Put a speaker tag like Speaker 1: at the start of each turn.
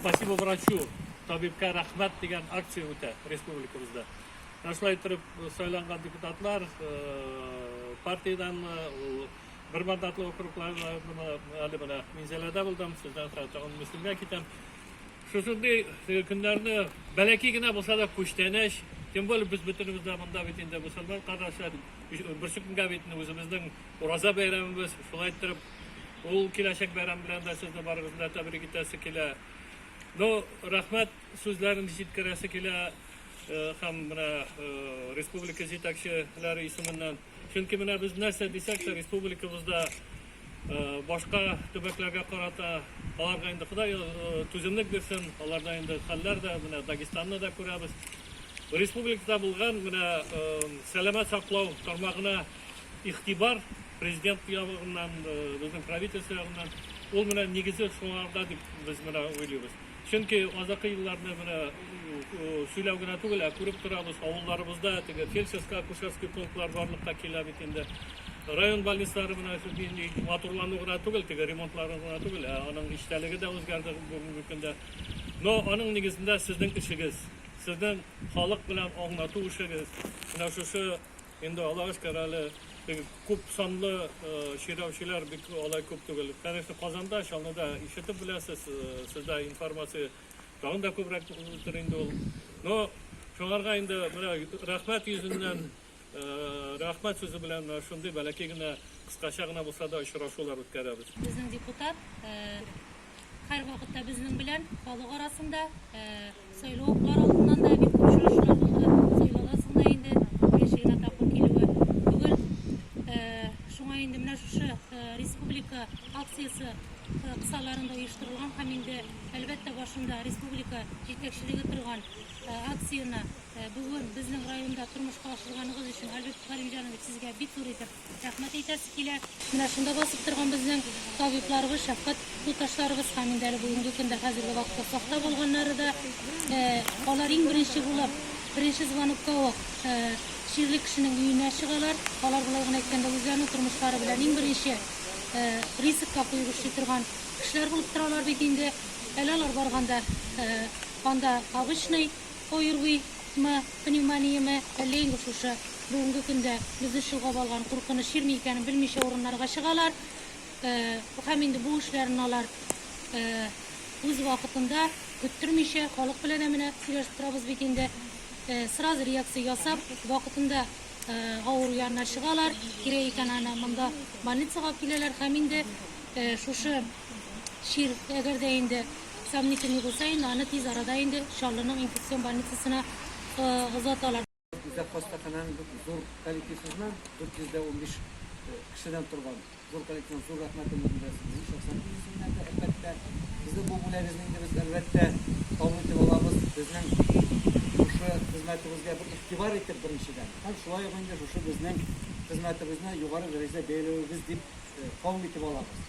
Speaker 1: Спасибо врачу, табибка рәхмәт дигән акция үтә республикабызда. Ә шулай итеп сайланган депутатлар партиядән бер мандатлы округларда әле менә Минзәләдә булдым, сездән соң тагын Мөслимгә китәм. Шушындый көннәрне бәләки генә булса да күчтәнәч, тем более без бөтенебез дә монда бит инде мусульман кардәшләр, берсекөнгә бит үзебезнең Ураза бәйрәмебез шулай иттереп ул киләчәк бәйрәм белән дә сезне барыгызны да тәбрик итәсе килә. Ну, рәхмәт сүзләрен җиткерәсе килә э, һәм менә э, республика җитәкчеләре исеменнән. Чөнки менә без нәрсә дисәк тә республикабызда э, башка төбәкләргә карата аларга инде Ходай түземлек бирсен, аларда инде хәлләр дә, менә Дагестанны да күрәбез. Республикада булган менә сәламәт саклау тармагына Игътибар Президент ягыннан, безнең правительство ягыннан ул менә нигезе шуларда дип без менә уйлыйбыз. Чөнки азакы елларны менә сөйләү генә түгел, ә күреп торабыз, авылларыбызда теге фельдшерско-акушерский пунктлар барлыкка килә бит инде. Район больницалары менә нинди матурлану гына түгел, теге ремонтлары гына түгел, ә аның эчтәлеге дә үзгәрде бүгенге көндә. Но аның нигезендә сезнең эшегез, сезнең халык белән аңлату эшегез, менә шушы Инде Аллага шөкер әле теге күп санлы чирәүчеләр бик алай күп түгел. Конечно, Казанда, Чаллыда ишетеп беләсез, сездә информация тагын да күбрәк булдыр инде ул. Но шуңарга инде менә рәхмәт йөзеннән, рәхмәт сүзе белән шундый бәләкәй генә, кыскача гына булса да очрашулар үткәрәбез. Безнең депутат Һәрвакытта безнең белән халык арасында, сайлау уклар алдыннан да бик күп очрашулар булды. Сайлаудан соң да инде беренче генә тапкыр килүе түгел. Шуңа инде менә шушы республика акциясе кысаларында оештырылган һәм инде әлбәттә башында республика җитәкчелеге торган акцияне бүген безнең районда тормышка ашырганыгыз өчен, Альберт Галимҗанович, сезгә бик зур итеп Рәхмәт әйтәсе килә. Менә шунда басып торган безнең табибларыбыз, шәфкать туташларыбыз һәм инде әле бүгенге көндә хәзерге вакытта сакта булганнары да, алар иң беренче булып, беренче звонокка ук чирле кешенең өенә чыгалар. Алар, болай гына әйткәндә, үзләренең тормышлары белән иң беренче рискка куеп эшли торган кешеләр булып торалар бит инде. Әле алар барганда анда обычный ОРВИ-мы, пневмониямы, әллә инде шушы бүгенге көндә безне чолгап алган куркыныч җирме икәнен белмичә урыннарга чыгалар һәм инде бу эшләрен алар үз вакытында, көттермичә, халык белән менә сөйләшеп торабыз бит инде, сразу реакция ясап, вакытында авыру янына чыгалар, кирәк икән аны монда больницага алып киләләр һәм инде шушы чир, әгәр дә инде Сомнительный булса инде, аны тиз арада инде Чаллының инфекцион больницасына озаталар. Үзәк хастаханәнең зур коллективсызына 415 кешедән торган зур коллективның зур рәхмәтен белдерә сезнең шәхсән исемнән дә, әлбәттә. Сезнең бу бүләгезне инде без, әлбәттә, кабул итеп алабыз. Безнең шушы хезмәтебезгә бер игътибар итеп, беренчедән, һәм шулай ук инде шушы безнең хезмәтебезне югары дәрәҗәдә бәяләвегез дип кабул итеп алабыз.